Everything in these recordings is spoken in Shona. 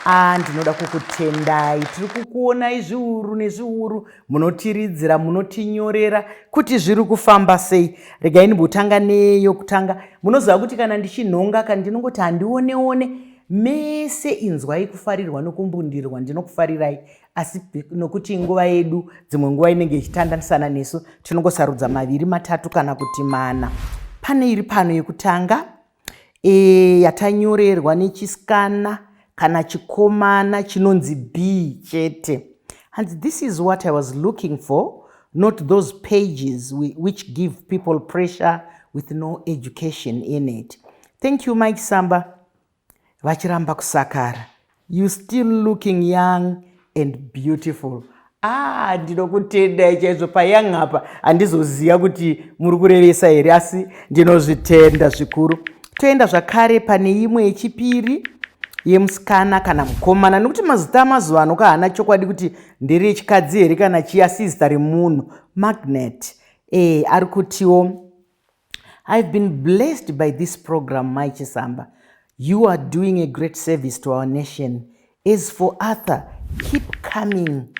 Ah, ndinoda kukutendai tiri kukuonai zviuru nezviuru munotiridzira munotinyorera kuti zviri kufamba sei regai ndimbotanga neyo kutanga munoziva kuti kana ndichinhonga ka ndinongoti handioneone mese inzwai kufarirwa nokumbundirwa ndinokufarirai asi nokuti nguva yedu dzimwe nguva inenge ichitandanisana nesu tinongosarudza maviri matatu kana kuti mana pane iri pano yekutanga e, yatanyorerwa nechisikana kana chikomana chinonzi b chete hanzi this is what i was looking for not those pages which give people pressure with no education in it thank you mike samba vachiramba kusakara You still looking young and beautiful. Ah, ndinokutendai chaizvo payoung apa handizoziva kuti muri kurevesa here asi ndinozvitenda zvikuru. Toenda zvakare pane imwe yechipiri yemusikana kana mukomana nekuti mazita amazuva ano kahana chokwadi kuti nderechikadzi here kana chiya sizita remunhu magnet e, ari kutiwo I've been blessed by this program Mai Chisamba. You are doing a great service to our nation. As for Arthur, keep coming.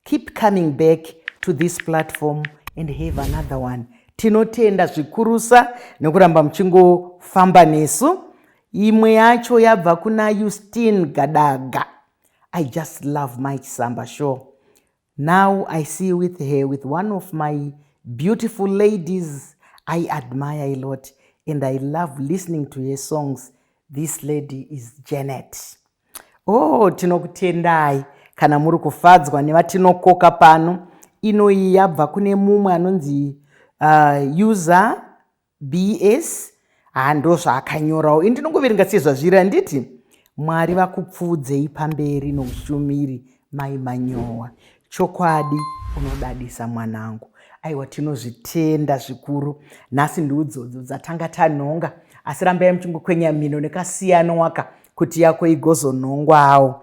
Keep coming back to this platform and have another one. Tinotenda zvikurusa nekuramba muchingofamba nesu. Imwe yacho yabva kuna Justine Gadaga. I just love Mai Chisamba show. Now I see with her with one of my beautiful ladies I admire a lot and I love listening to her songs. This lady is Janet. Oh, tinokutendai kana muri kufadzwa nevatinokoka pano. Inoyi yabva kune mumwe anonzi uh, user bs haa ndozvaakanyorawo ini ndinongoverenga sezvazviri handiti mwari vakupfuudzei pamberi noushumiri mai manyowa chokwadi unodadisa mwanangu aiwa tinozvitenda zvikuru nhasi ndiudzodzo dzatanga tanhonga asi rambai muchingokwenya mhino nekasiyano waka kuti yako igozonhongwawo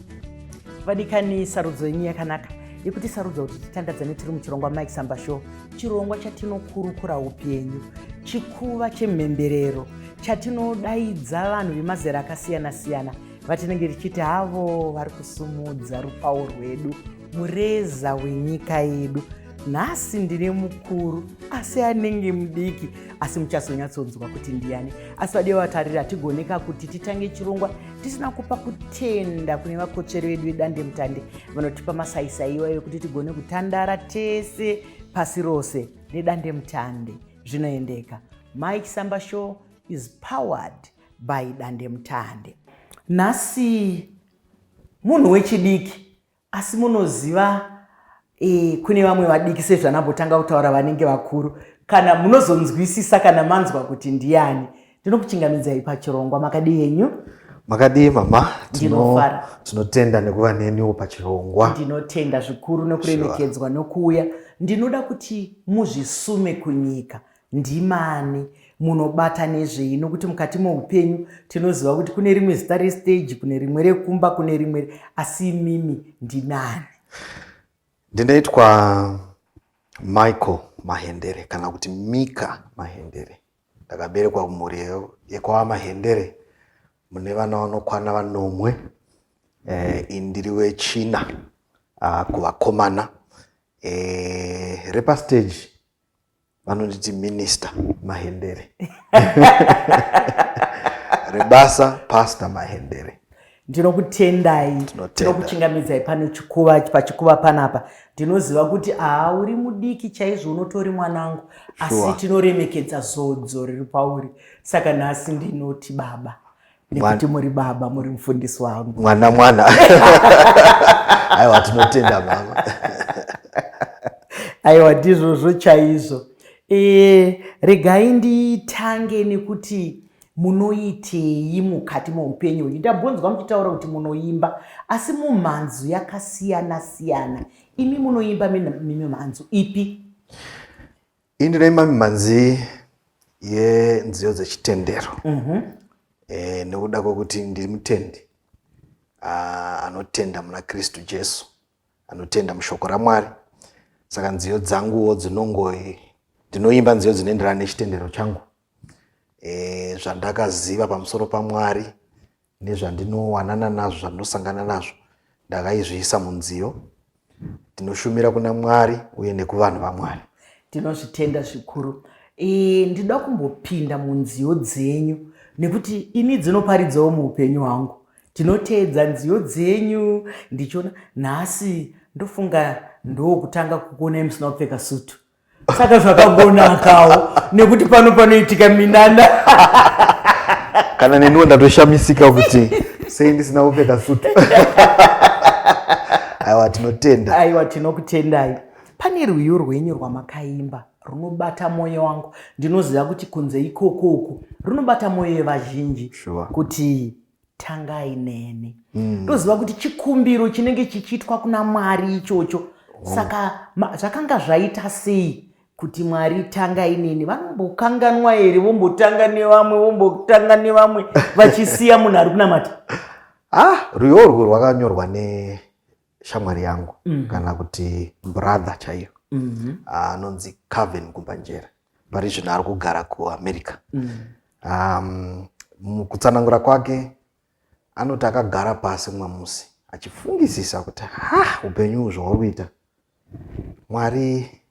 vadikani sarudzo yenyu yakanaka yekuti sarudza kuti titandadzane tiri muchirongwa mike samba show chirongwa chatinokurukura upenyu chikuva chemhemberero chatinodaidza vanhu vemazera akasiyana-siyana vatinenge tichiti havo vari kusumudza rupawo rwedu mureza wenyika yedu nhasi ndine mukuru asi anenge mudiki asi muchazonyatsonzwa kuti ndiani asi vadiwe vatariri hatigoneka kuti titange chirongwa tisina kupa kutenda kune vakotsveri vedu vedandemutande vanotipa masaisai iwayo ekuti tigone kutandara tese pasi rose nedandemutande zvinoendeka mike samba show is powered by dandemutande nhasi munhu wechidiki Asi munoziva e, kune vamwe vadiki sezvanambotanga kutaura vanenge vakuru kana munozonzwisisa kana manzwa kuti ndiyani ndinokuchingamidzai pachirongwa makadii henyu makadii mama tinotenda tino nekuva neniwo pachirongwa ndinotenda zvikuru nekuremekedzwa sure. nokuuya ndinoda kuti muzvisume kunyika Ndimani munobata nezvei nokuti mukati moupenyu tinoziva kuti kune rimwe zita restage kune rimwe rekumba kune rimwe asi imimi ndinani ndinoitwa michael mahendere kana kuti mika mahendere ndakaberekwa kumhuri yekwava mahendere mune vana vanokwana vanomwe eh, indiri wechina ah, kuvakomana eh, repastage vanonditi minista mahendere rebasa pasta mahendere ndinokutendai ndinokuchingamidzai pano chikuva pachikuva panapa ndinoziva kuti aa uri mudiki chaizvo unotori mwanangu asi tinoremekedza zodzo riri pauri saka nhasi ndinoti baba nekuti muri baba muri mufundisi wangu mwana mwana aiwa tinotenda mama aiwa ndizvozvo chaizvo e, regai nditange nekuti munoitei mukati moupenyu uyu ndambonzwa muchitaura kuti munoimba asi mumhanzu yakasiyana siyana imi munoimba mimhanzu ipi Ini ndine imwe mhanzi yenziyo dzechitendero mm-hmm. eh, nekuda kwekuti ndiri mutendi ah, anotenda muna kristu jesu anotenda mushoko ramwari saka nziyo dzanguwo dzinongoi ndinoimba nziyo dzinoenderana nechitendero changu eh, zvandakaziva pamusoro pamwari nezvandinowanana nazvo zvandinosangana nazvo ndakaizviisa munziyo ndinoshumira kuna mwari uye nekuvanhu vamwari tinozvitenda zvikuru e, ndinoda kumbopinda munziyo dzenyu nekuti ini dzinoparidzawo muupenyu hwangu tinoteedza nziyo dzenyu ndichiona nhasi ndofunga ndokutanga kukuonai musina kupfeka sutu saka zvakagonakawo nekuti pano panoitika minana kana neniwo ndatoshamisika kuti sei ndisina kupfeka sutu aiwa tinotenda aiwa tinokutendai pane rwiyo rwenyu rwamakaimba runobata mwoyo wangu ndinoziva kuti kunze ikoko uku runobata mwoyo yevazhinji sure. kuti tangai neni ndoziva mm. kuti chikumbiro chinenge chichiitwa kuna mwari ichocho oh. saka zvakanga zvaita sei kuti mwari tanga inini vanombokanganwa here vombotanga nevamwe vombotanga nevamwe vachisiya munhu ari kunamata ah rwiyo urwu rwakanyorwa neshamwari yangu mm. kana kuti brother chaiyo mm-hmm. ah, anonzi mm -hmm. caven kumbanjera pari zvino ari kugara kuamerica mm. um, mukutsanangura kwake anoti akagara pasi mumwe musi achifungisisa kuti ha upenyu uhu zvauri kuita mwari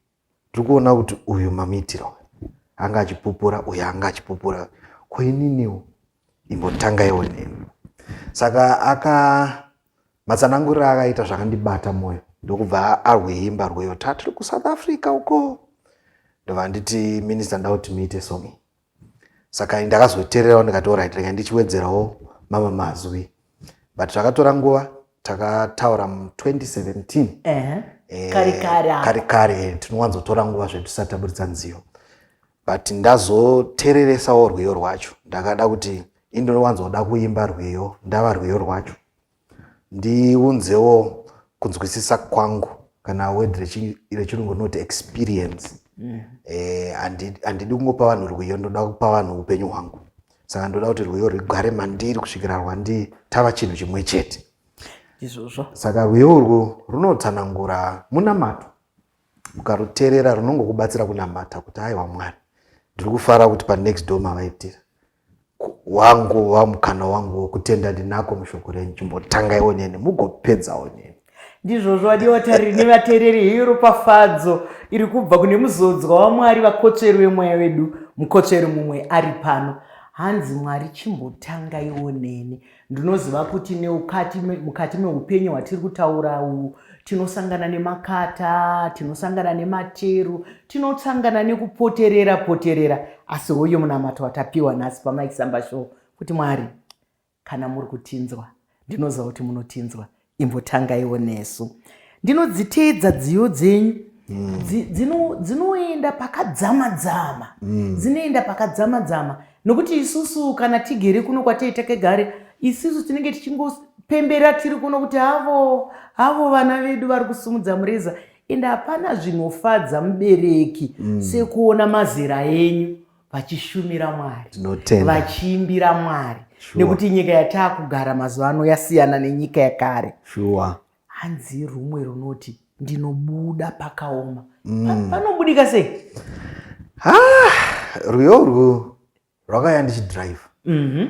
tiri kuona kuti uyu mamuitira uyu anga achipupura uyu anga achipupura koininiwo imbotangaiwo neni saka aka Matsananguriro akaita zvakandibata mwoyo ndokubva arweimba rweyo ta tiri kusouth africa uko ndobva nditi minista nda kuti muite somi saka ndakazotererawo ndikati orit rega ndichiwedzerawo mama mazwi but zvakatora nguva takataura mu 2017 eh, kari kari eh, tinowanzotora nguva zvetisati taburitsa nziyo but ndazotereresawo rwiyo rwacho ndakada kuti indinowanzoda kuimba rwiyo ndava rwiyo rwacho Ndiunzewo kunzwisisa kwangu kana word rechirungu rinoti experience mm. eh, handidi kungopa vanhu rwiyo ndoda kupa vanhu upenyu hwangu saka ndoda kuti rwiyo rwigare mandiri kusvikira rwandi tava chinhu chimwe chete izvozvo saka rwiyo urwu runotsanangura munamato ukaruteerera runongokubatsira kunamata kuti aiwa mwari ndiri kufara kuti panext door mavaitira wangu wamukana wangu wokutenda ndinako mushoko renyu chimbotangai oneni mugopedza oneni ndizvozvo vadivatari nevateereri heyo ropafadzo iri kubva kune muzodzwa wamwari vakotsveri vemweya vedu mukotsveri mumwe ari pano hanzi mwari chimbotangai oneni ndinoziva kuti neukati mukati meupenyu hwatiri kutaura uwu tinosangana nemakata tinosangana nemateru tinosangana nekupoterera poterera asi hoyo munamato watapiwa nhasi pamaisamba show kuti mwari kana muri kutinzwa ndinoziva kuti munotinzwa imbotangaiwo nesu ndinodziteedza dziyo dzenyu mm. dzinoenda pakadzama dzama mm. dzinoenda pakadzama dzama nokuti isusu kana tigere kuno kwatei takegare isusu tinenge tichingopembera tiri kuno kuti havo havo vana vedu vari kusumudza mureza ende hapana zvinofadza mubereki mm. sekuona mazera enyu vachishumira mwari vachiimbira mwari nekuti nyika yataakugara mazuva ano yasiyana nenyika yekare shuwa hanzi rumwe runoti ndinobuda pakaoma mm. panobudika sei ah, rwiyo urwu rwakaya ndichidrive mm -hmm.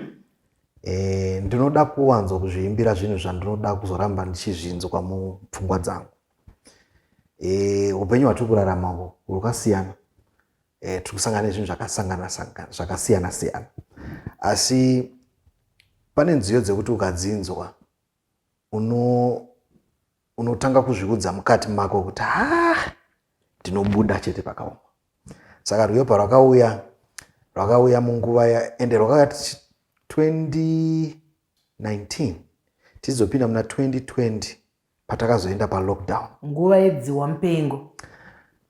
e, eh, ndinoda kuwanzwa kuzviimbira zvinhu zvandinoda kuzoramba ndichizvinzwa mupfungwa dzangu e, upenyu hwatiri kurarama hwo hwakasiyana e, tiri kusangana nezvinhu zvakasangana sangana zvakasiyana siyana asi pane nziyo dzekuti ukadzinzwa uno unotanga kuzviudza mukati mako kuti ha ah, ndinobuda chete pakaoma saka rwiyo parwakauya rwakauya munguva ya ende rwakauya 2019 tizopinda muna 2020 patakazoenda palockdown nguva yedzihwa mupengo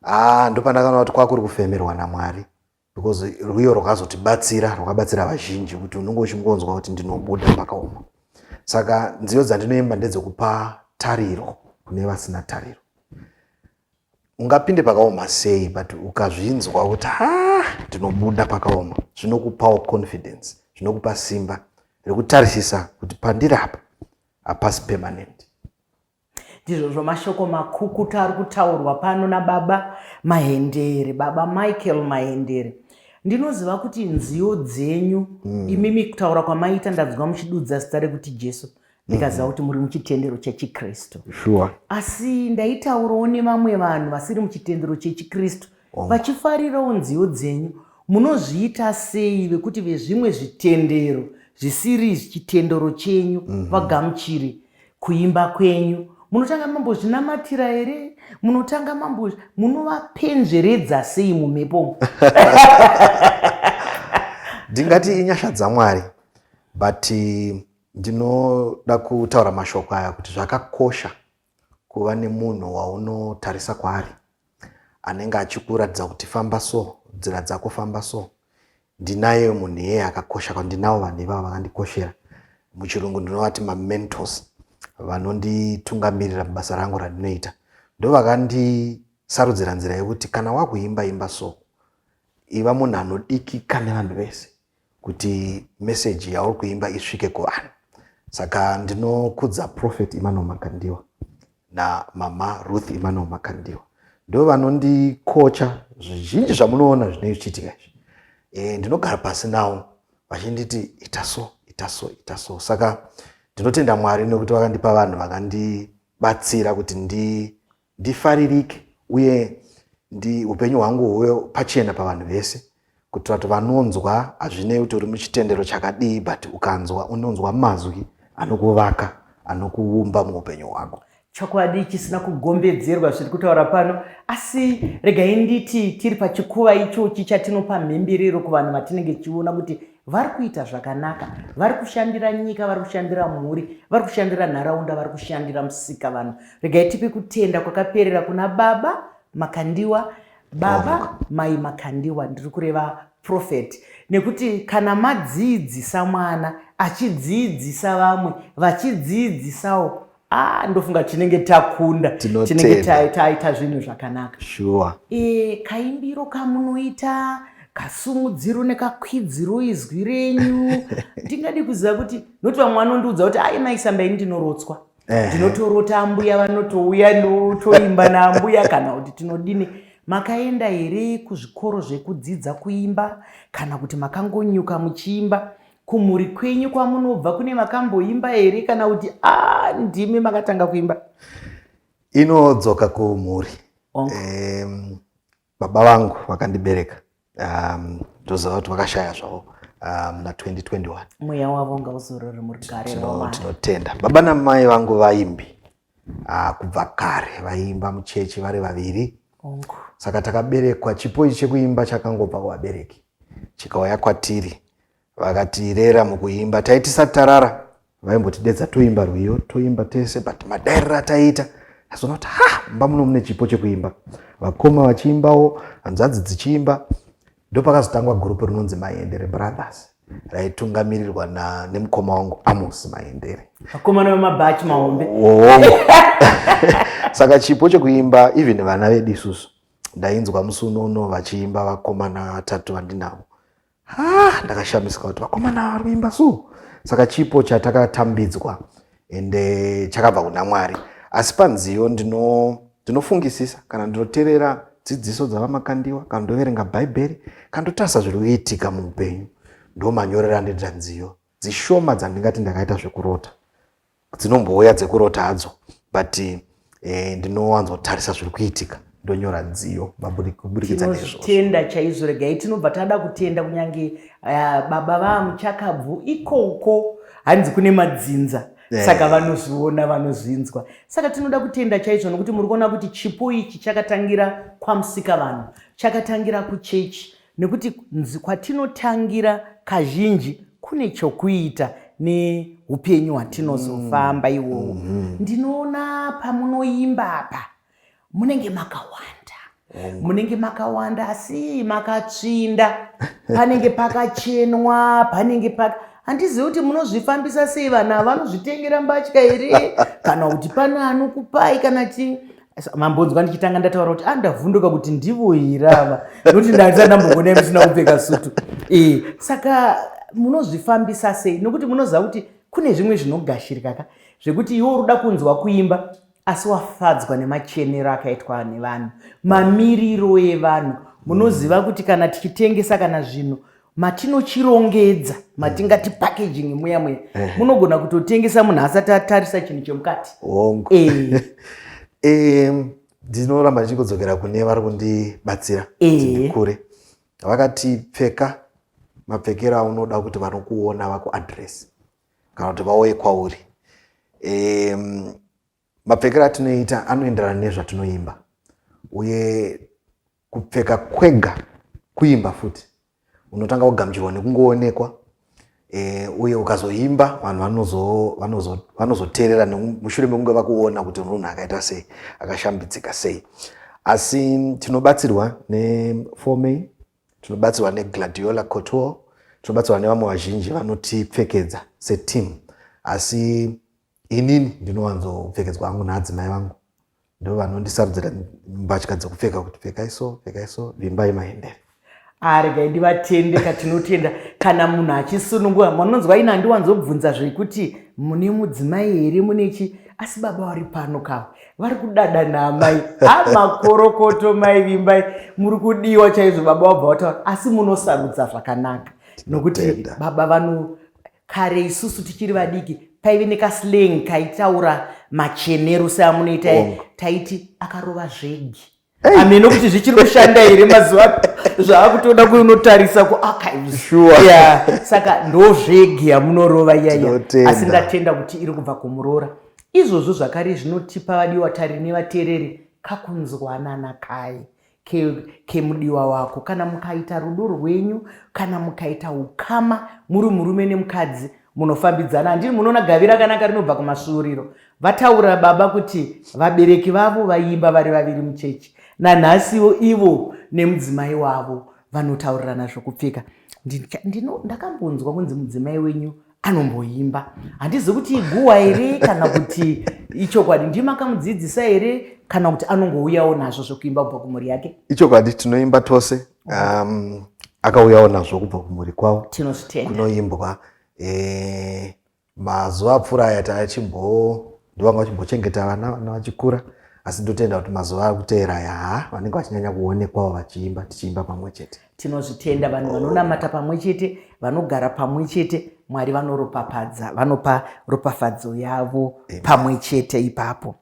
haa ah, ndopandakaona kuti kwakuri kufemerwa namwari because rwiyo rwakazotibatsira rwakabatsira vazhinji kuti unenge uchingonzwa kuti ndinobuda pakaoma saka nziyo dzandinoimba ndedzekupa tariro kune vasina tariro ungapinde pakaoma sei but ukazvinzwa kuti ha ndinobuda pakaoma zvinokupawo confidence zvinokupa simba rekutarisisa kuti pandiri apa hapasi permanent ndizvozvo mashoko makukuta ari kutaurwa pano nababa mahendere baba michael mahendere ndinoziva kuti nziyo dzenyu mm. imimi kutaura kwamaita ndanzwa muchidudza zita rekuti jesu ndikaziva mm. kuti muri muchitendero chechikristu sure. asi ndaitaurawo nevamwe vanhu vasiri muchitendero chechikristu oh. vachifarirawo oh. nziyo dzenyu munozviita sei vekuti vezvimwe zvitendero zvisiri chitendero chenyu mm -hmm. vagamuchiri kuimba kwenyu munotanga mambozvinamatira here munotanga mambo munovapenzveredza sei mumhepo ndingati inyasha dzamwari but ndinoda kutaura mashoko aya kuti zvakakosha kuva nemunhu waunotarisa kwaari anenge achikuratidza kuti famba so nzira dzako famba so ndinaye munhu iyeye akakosha kwandinawo vanhu ivavo vakandikoshera muchirungu ndinovati mamentos vanonditungamirira mubasa rangu randinoita ndovakandisarudzi ranzira yekuti kana wakuimba imba so iva munhu anodikika nevanhu vese kuti message yauri kuimba isvike kuvanhu saka ndinokudza prophet emmanuel makandiwa namama ruth emmanuel makandiwa ndo vanondikocha zvizhinji zvamunoona zvinei zvichiitika izvi e, ndinogara pasi nawo vachinditi ita so ita so ita so saka ndinotenda mwari nekuti vakandipa vanhu vakandibatsira kuti ndi Ndifaririke uye ndi upenyu hwangu huve pachena pavanhu vese kuitira kuti vanonzwa hazvinei kuti uri muchitendero chakadii but ukanzwa unonzwa mazwi anokuvaka anokuumba muupenyu hwako chokwadi chisina kugombedzerwa zviri kutaura pano asi regai nditi tiri pachikuva ichochi chatinopa mhemberero kuvanhu vatinenge tichiona kuti vari kuita zvakanaka vari kushandira nyika vari kushandira mhuri vari kushandira nharaunda vari kushandira musika vanhu regai tipe kutenda kwakaperera kuna baba makandiwa baba mai makandiwa ndiri kureva profeti nekuti kana madziidzisa mwana achidziidzisa vamwe vachidziidzisawo Ah, ndofunga tinenge takunda tinenge taita zvinhu zvakanaka sure. E, kaimbiro kamunoita kasumudziro nekakwidziro izwi renyu ndingadi kuziva kuti noti vamwe vanondiudza kuti ai maisamba ini ndinorotswa ndinotorota ambuya vanotouya ndotoimba naambuya kana kuti tinodini makaenda here kuzvikoro zvekudzidza kuimba kana kuti makangonyuka muchiimba Kumhuri kwenyu kwamunobva kune vakamboimba here kana kuti a ah, ndimi makatanga kuimba? Inodzoka kumhuri. Um, baba vangu vakandibereka um, ndozova kuti vakashaya zvavo um, na 2021 mweya wavo ngauzorore murugare tinotenda baba namai vangu vaimbi Ah, kubva kare vaiimba muchechi vari vaviri saka takaberekwa chipo ichi chekuimba chakangobva kuvabereki chikauya kwatiri vakatirera mukuimba taiti satarara vaimbotidedza toimba rwiyo toimba tese but madairira ataiita azoona kuti ha mumba muno mune chipo chekuimba vakoma vachiimbawo hanzvadzi dzichiimba Ndopakazotangwa gurupu rinonzi Maendere Brothers raitungamirirwa na nemukoma wangu Amos Maendere. Vakomana vemabhachi mahombe. Hongo. Saka chipo chekuimba even vana vedu isusu ndainzwa musi unono vachiimba vakomana vatatu vandinavo. Ah, ndakashamisika kuti vakomana vari kuimba so. Saka chipo chatakatambidzwa ende chakabva kuna mwari asi panziyo ndinofungisisa ndino kana ndinoterera dzidziso dzavamakandiwa kana ndoverenga bhaibheri kana ndotarisa zviri kuitika muupenyu ndomanyorera ndoita nziyo dzishoma dzandingati ndakaita zvekurota dzinombouya dzekurota hadzo but eh, ndinowanzotarisa zviri kuitika ndonyora nziyo maburikidza nezvotenda chaizvo regai tinobva tada kutenda kunyange uh, baba vamuchakabvu ikoko hanzi kune madzinza yeah. saka vanozviona vanozvinzwa saka tinoda kutenda chaizvo nokuti muri kuona kuti chipo ichi chakatangira kwamusika vanhu chakatangira kuchechi Nekuti nzi kwatinotangira kazhinji kune chokuita neupenyu hwatinozofamba mm. iwowo. Mm -hmm. Ndinoona pamunoimba apa munenge makawanda mm. munenge makawanda asi makatsvinda panenge pakachenwa panenge paka handizivi kuti munozvifambisa sei vanhu ava vanozvitengera mbatya here kana kuti pane anokupai kana chii mambonzwa ndichitanga ndataura kuti andavhunduka kuti ndivo here ava nokuti ndaisa ndambogonai musina kupfeka sutu e, saka munozvifambisa sei nokuti munoziva kuti kune zvimwe zvinogashirikaka zvekuti iwe uruda kunzwa kuimba asi wafadzwa nemachenero akaitwa nevanhu mamiriro evanhu munoziva kuti kana tichitengesa kana zvinhu matinochirongedza matingati packaging muya muya munogona kutotengesa munhu asati atarisa chinhu chemukati hongu eh. eh, ndinoramba ndichikodzokera kune vari kundibatsira eh. kuti ndikure vakati pfeka mapfekero aunoda kuti vanokuona vakuadress kana kuti vauye kwauri mapfekero atinoita anoenderana nezvatinoimba uye kupfeka kwega kuimba futi unotanga kugamuchirwa nekungoonekwa e, uye ukazoimba vanhu vanozoteerera mushure mekunge vakuona kuti munhu akaita sei akashambidzika sei asi tinobatsirwa nefomei tinobatsirwa negladiola cotor tinobatsirwa nevamwe vazhinji vanotipfekedza seteam asi inini ndinowanzopfekedzwa hangu naadzimai vangu ndovanondisarudzira mbatya dzekupfeka kuti pfekai so pfekai so vimbai maendere aregai ndivatende katinotenda kana munhu achisunungura manonzwa ina andiwanzobvunza zvekuti mune mudzimai here mune chi asi baba vari pano kava vari kudada naamai amakorokoto mai vimbai muri kudiwa chaizvo baba wabva wataura asi munosarudza zvakanaka nokuti baba vano kare isusu tichiri vadiki paive nekaslang kaitaura machenero seamunoita taiti akarova zvegi ameno kuti zvichiri kushanda here mazuva zvaakutoda kunotarisa kuakaiya saka ndo zvegi yamunorova iyaya asi ndatenda kuti iri kubva kumuroora izvozvo zvakare zvinotipa vadiwa tari nevateereri kakunzwanana kaye kemudiwa ke wako kana mukaita rudo rwenyu kana mukaita ukama muri murume nemukadzi munofambidzana handii munoona gavi rakanaka rinobva kumasvuuriro vataura baba kuti vabereki vavo vaiimba vari vaviri muchechi nanhasiwo ivo nemudzimai wavo vanotaurirana zvokupfeka ndakambonzwa kunzi mudzimai wenyu anomboimba handizi kuti iguwa here kana kuti ichokwadi ndima akamudzidzisa here kana kuti anongouyawo nazvo zvekuimba kubva kumhuri yake ichokwadi tinoimba tose um, akauyawo nazvo kubva kumhuri kwavo kunoimbwa e, mazuva apfuura aya taachimbo ndovanga vachimbochengeta vana vana vachikura asi ndotenda kuti mazuva ari kuteera yaa vanenge vachinyanya kuonekwawo vachiimba tichiimba pamwe chete tinozvitenda vanhu vanonamata pamwe chete vanogara pamwe chete mwari vanoropafadza vanopa ropafadzo yavo pamwe chete ipapo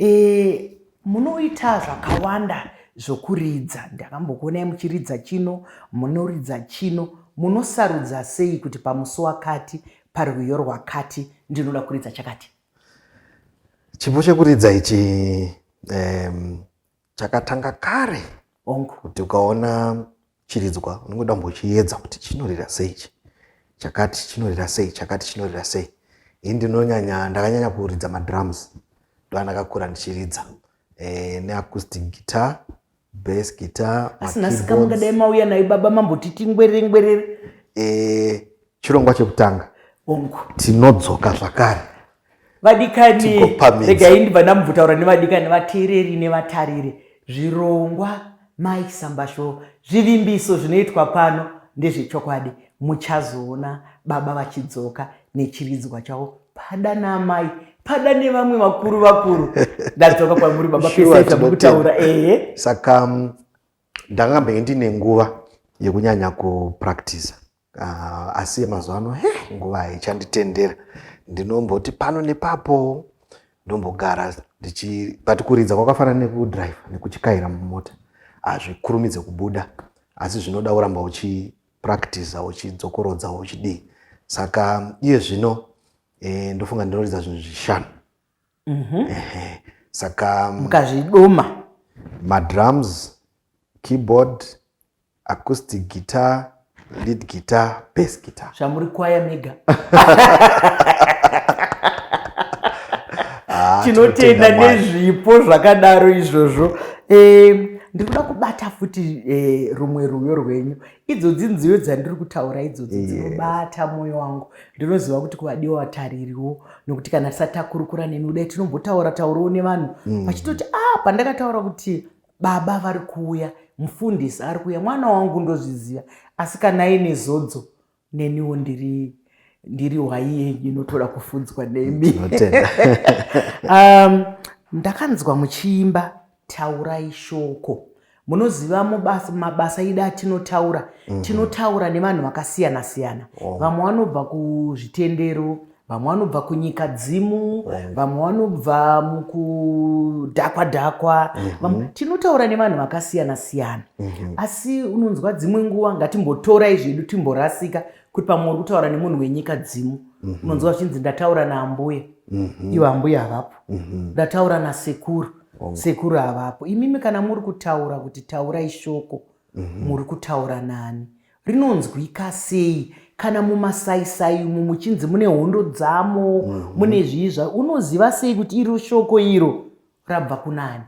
e, munoita zvakawanda zvokuridza ndakambokuonai muchiridza chino munoridza chino munosarudza sei kuti pamusi wakati parwiyo rwakati ndinoda kuridza chakati chipo chekuridza ichi um, chakatanga kare onk kuti ukaona chiridzwa unenge uda kumbochiedza kuti chinorira sei chi chakati chinorira sei chakati chinorira sei ini ndinonyanya ndakanyanya kuridza madrums ndovandakakura ndichiridza eh, neacoustic guitar bass guitar asi nhasi kamungadai mauya nayo baba mambotiti ngwerere ngwerere eh, chirongwa chekutanga ongu tinodzoka zvakare vadikani regai ndibva ndamubvutaura nevadikani vateereri nevatariri zvirongwa mike sambasho zvivimbiso zvinoitwa pano ndezvechokwadi muchazoona baba vachidzoka nechiridzwa chavo pada naamai pada nevamwe vakuru vakuru ndadzoka kwamuri baba peseamukutaura ehe saka ndakambenge ndine nguva yekunyanya kupractisa Uh, asi yemazuva ano he nguva haichanditendera ndinomboti pano nepapo ndombogara ndichi but kuridza kwakafanana nekudrive nekuchikaira mumota hazvikurumidze kubuda asi zvinoda uramba uchipractiza uchidzokorodza uchidii saka iye zvino e, ndofunga ndinoridza zvinhu zvishanu mm -hmm. e, saka mukazvidoma madrums keyboard acoustic guitar lead guitar bass guitar zvamuri kwaya mega ah, tinotenda nezvipo zvakadaro izvozvo eh, ndiri kuda kubata futi eh, rumwe rwuyo rwenyu idzodzi nziyo dzandiri kutaura idzodzi dzinobata mwoyo wangu ndinoziva kuti kuvadiwa vataririwo nokuti kana tisati takurukura neni kudai tinombotaura taurowo nevanhu mm. vachitoti a ah, pandakataura kuti baba vari kuuya mufundisi ari kuuya mwana wangu ndozviziva asi kana aine zodzo neniwo ndiri ndiri hwai yenyu inotoda kufunzwa nemi um, ndakanzwa muchiimba taurai shoko munoziva mubasa mabasa ida atinotaura mm -hmm. tinotaura nevanhu vakasiyana siyana vamwe vanobva kuzvitendero vamwe vanobva kunyika dzimu mm. vamwe vanobva mukudhakwa dhakwa mm-hmm. tinotaura nevanhu vakasiyana siyana mm-hmm. asi unonzwa dzimwe nguva ngatimbotorai zvedu timborasika kuti pamwe uri kutaura nemunhu wenyika dzimu mm-hmm. unonzwa zvichinzi ndataura naambuya ivo ambuya havapo ndataura nasekuru oh. sekuru havapo imimi kana muri kutaura kuti taurai shoko Mhm. muri kutaura nani rinonzwika sei kana mumasaisai umu muchinzi mune hondo dzamo Mhm. mune zvii zva unoziva sei kuti iro shoko iro rabva kunani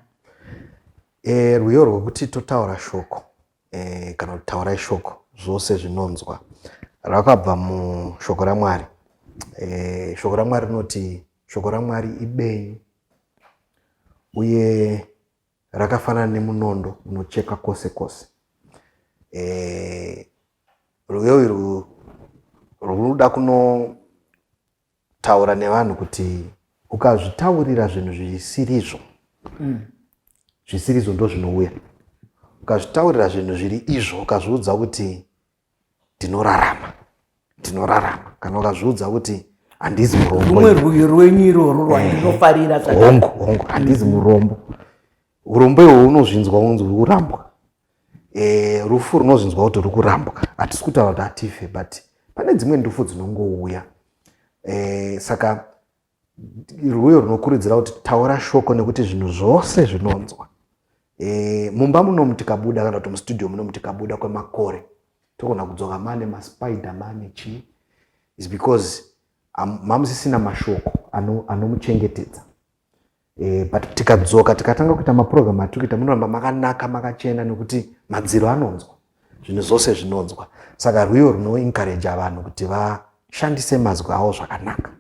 Eh, rwiyo rwekuti totaura shoko eh, kana kuti taurai shoko zvose zvinonzwa rakabva mushoko ramwari eh, shoko ramwari rinoti shoko ramwari ibenyu uye rakafanana nemunondo unocheka kwose kwose e, eh, rwiyo irwu rwunoda kunotaura nevanhu kuti ukazvitaurira zvinhu zvisirizvo mm. zvisirizvo ndo zvinouya ukazvitaurira zvinhu zviri izvo ukazviudza kuti ndinorarama ndinorarama kana ukazviudza kuti handizi muromborumwe rwuyo rwenyu iroro rwandinofarira eh, hongu hongu handizi murombo urombo ihwo unozvinzwa unzi uri kurambwa eh, rufu runozvinzwa kuti uri kurambwa hatisi kutaura kuti hatife but pane dzimwe ndufu dzinongouya eh, saka rwuyo rwunokurudzira kuti taura shoko nekuti zvinhu zvose zvinonzwa e, mumba munomu tikabuda kana kuti mustudio munomu tikabuda kwemakore togona kudzoka mane maspider mane chii is because mamusisina mashoko anomuchengetedza e, but tikadzoka tikatanga kuita maprogram atiri kuita munoramba makanaka makachena nekuti madziro anonzwa zvinhu zvose zvinonzwa saka rwiyo runoencouragea vanhu kuti vashandise mazwi avo zvakanaka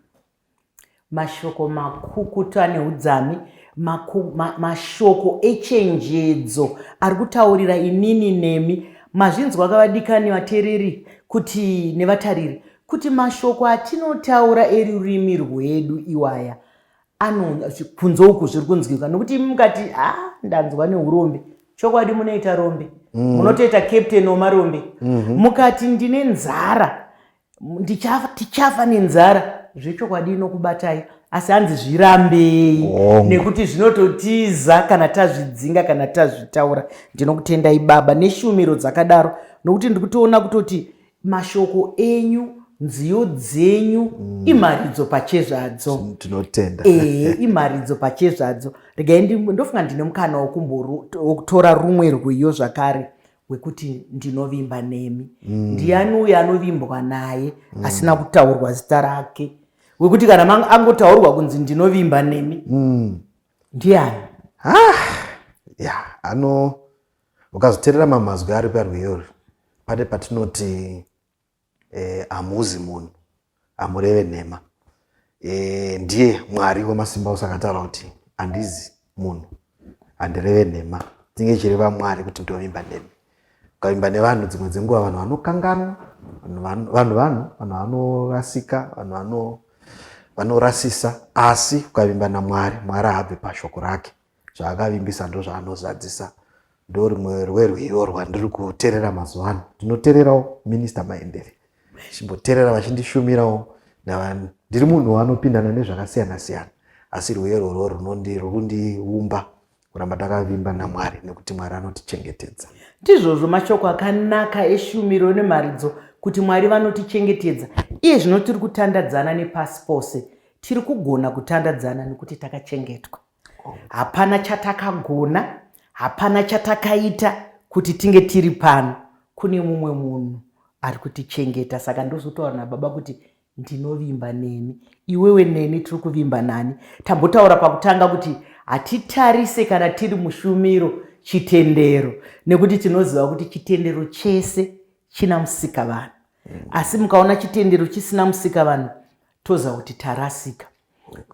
mashoko makukutu ane udzami mashoko echenjedzo ari kutaurira inini nemi mazvinzwa kavadikani vatereri kuti nevatariri kuti mashoko atinotaura erurimi rwedu iwaya anonga kunze uku zviri kunzwika nokuti imi mukati ha ah, ndanzwa neurombe chokwadi munoita rombe mm. munotoita captain wemarombe mhm. mukati ndine nzara tichafa nenzara zvechokwadi inokubatai asi hanzi zvirambei nekuti zvinototiza kana tazvidzinga kana tazvitaura ndinokutendai baba neshumiro dzakadaro nokuti ndikutoona kutoti mashoko enyu nziyo dzenyu mm. imharidzo pachezvadzo tinotenda ee eh, imharidzo pachezvadzo regai ndofunga ndine mukana wokutora rumwe rwiyo zvakare wekuti ndinovimba nemi mm. ndiani uyo anovimbwa naye mm. asina kutaurwa zita rake wekuti kana angotaurwa kunzi ndinovimba nemi mm. ndiani ah, ya yeah, ano Ukazoterera mamwe mazwi ari parwiyo rwi pane patinoti eh, hamuzi munhu hamureve nhema eh, ndiye mwari wemasimba ose akataura kuti handizi munhu handireve nhema tinge chireva mwari kuti ndovimba nemi ukavimba nevanhu dzimwe dzenguva vanhu vanokanganwa vanhu vanhu vanhu vanorasika vanhu vano vanorasisa asi ukavimba namwari mwari haabve pashoko rake zvaakavimbisa ndozvaanozadzisa ndorimwe rwerwe iro rwandiri kuterera mazuva ano ndinotererawo minista maendere chimboterera vachindishumirawo navanhu ndiri munhu wanopindana nezvakasiyana siyana asi rwiyo irworwo runondiundiumba kuramba takavimba namwari nekuti mwari anotichengetedza ndizvozvo mashoko akanaka eshumiro nemharidzo kuti mwari vanotichengetedza iye zvino tiri kutandadzana nepasi pose tiri kugona kutandadzana nekuti takachengetwa hapana chatakagona hapana chatakaita kuti tinge tiri pano kune mumwe munhu ari kutichengeta saka ndozotaura nababa kuti ndinovimba nemi iwewe neni tiri kuvimba nani tambotaura pakutanga kuti hatitarise kana tiri mushumiro chitendero nekuti tinoziva kuti chitendero chese china musika vanhu mm. asi mukaona chitendero chisina musika vanhu toziva kuti tarasika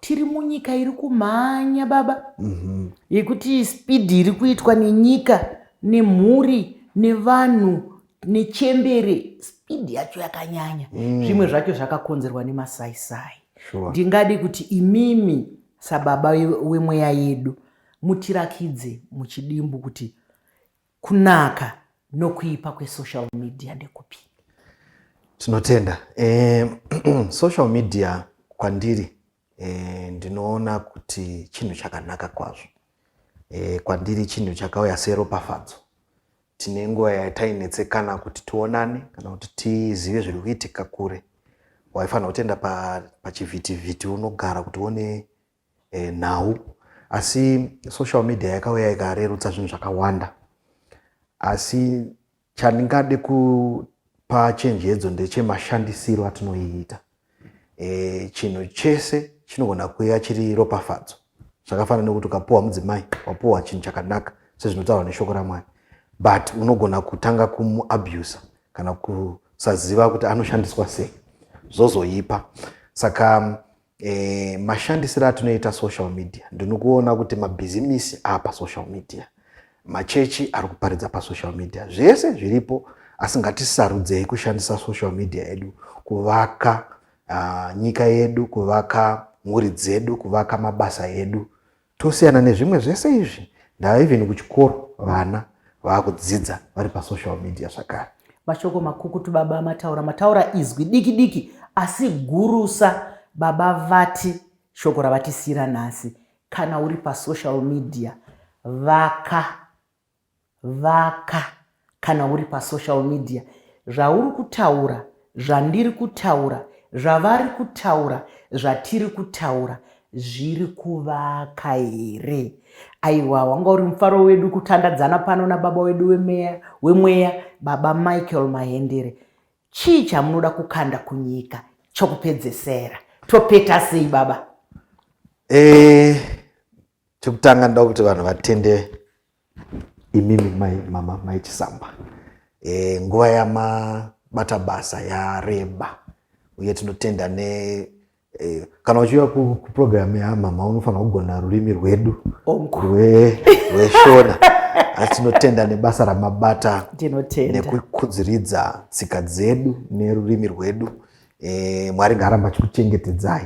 tiri munyika iri kumhanya baba mhm. yekuti mm -hmm. spidi iri kuitwa nenyika nemhuri nevanhu nechembere spidi yacho yakanyanya mm. zvimwe zvacho zvakakonzerwa nemasaisai sure. ndingadi kuti imimi sababa wemweya yedu mutirakidze muchidimbu kuti Kunaka nokuipa kwesocial media ndekupi? Tinotenda. Eh, social media kwandiri eh, ndinoona kuti chinhu chakanaka kwazvo. Eh, kwandiri chinhu chakauya seropafadzo. Tine nguva yatainetsekana kuti tionane kana kuti tizive zviri kuitika kure. Waifanira kutenda pachivhitivhiti pa unogara kuti uone e, nhau asi social media yakauya ikarerutsa zvinhu zvakawanda asi chandingade kupa chenjedzo ndechemashandisiro atinoiita e, chinhu chese chinogona kuuya chiri ropafadzo zvakafanana nekuti ukapuwa mudzimai wapuwa chinhu chakanaka sezvinotaurwa neshoko ramwari but unogona kutanga kumuabusa kana kusaziva kuti anoshandiswa sei zvozoipa saka E, mashandisiro atinoita social media ndinokuona kuti mabhizimisi apa social media machechi ari kuparidza pasocial media zvese zviripo asi ngatisarudzei kushandisa social media yedu kuvaka uh, nyika yedu kuvaka mhuri dzedu kuvaka mabasa edu Tosiyana nezvimwe zvese izvi ndava even kuchikoro vana vakudzidza vari pasocial media zvakare. Mashoko makukutu baba mataura mataura izwi diki diki asi gurusa baba vati shoko ravatisiira nhasi kana uri pasocial media vaka Vaka kana uri pa social media zvauri kutaura zvandiri kutaura zvavari kutaura zvatiri kutaura zviri kuvaka here aiwa wanga uri mufaro wedu kutandadzana pano nababa wedu wemeya wemweya baba michael mahendere chii chamunoda kukanda kunyika chokupedzesera topeta sei baba e, chekutanga ndoda kuti vanhu vatende imimi mai mama mai chisamba e, nguva yamabata basa yareba uye tinotenda ne e, kana uchiuya kuprogramu yamama unofanira kugona rurimi rwedu rweshona asi tinotenda nebasa ramabata nekukudziridza tsika dzedu nerurimi rwedu e, mwari ngaaramba achikuchengetedzai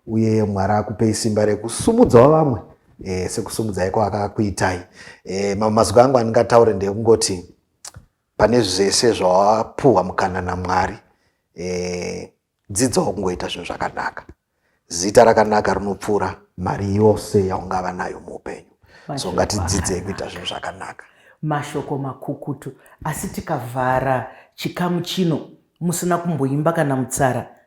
uye mwari akupei simba rekusumudzawo vamwe e, sekusumudzai kwaakakuitai e, eh, mamwe mazwi angu andingataure ndekungoti pane zvese zvawapuhwa mukana namwari e, dzidzawo kungoita zvinhu zvakanaka zita rakanaka rinopfuura mari yose yaungava nayo muupenyu so ngatidzidzei kuita zvinhu zvakanaka mashoko makukutu asi tikavhara chikamu chino musina kumboimba kana mutsara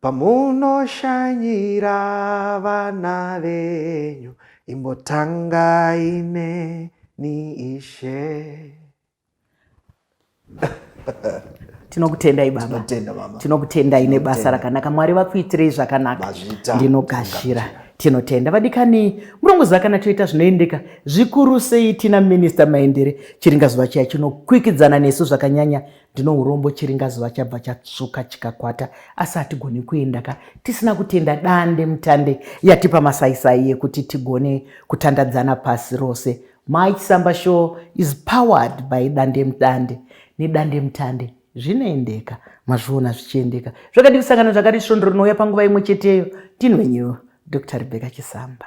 Pamunoshanyira vana venyu imbotangai neni ishe. tinokutendai baba tinokutendai nebasa rakanaka mwari vakuitirei zvakanaka ndinogashira tinotenda vadikani murongoziva kana toita zvinoendeka zvikuru sei tina minista maendere chiringa zuva chiya chinokwikidzana nesu zvakanyanya ndino urombo chiringazuva chabva chatsvuka chikakwata asi hatigoni kuenda ka tisina kutenda dande mutande yatipa masaisai yekuti tigone kutandadzana pasi rose mai chisamba show is powered by dande mudande nedande mutande zvinoendeka mazviona zvichiendeka zvakadii kusangana zvakati svondo rinouya panguva imwe cheteyo ndinwenyu dr rebecca chisamba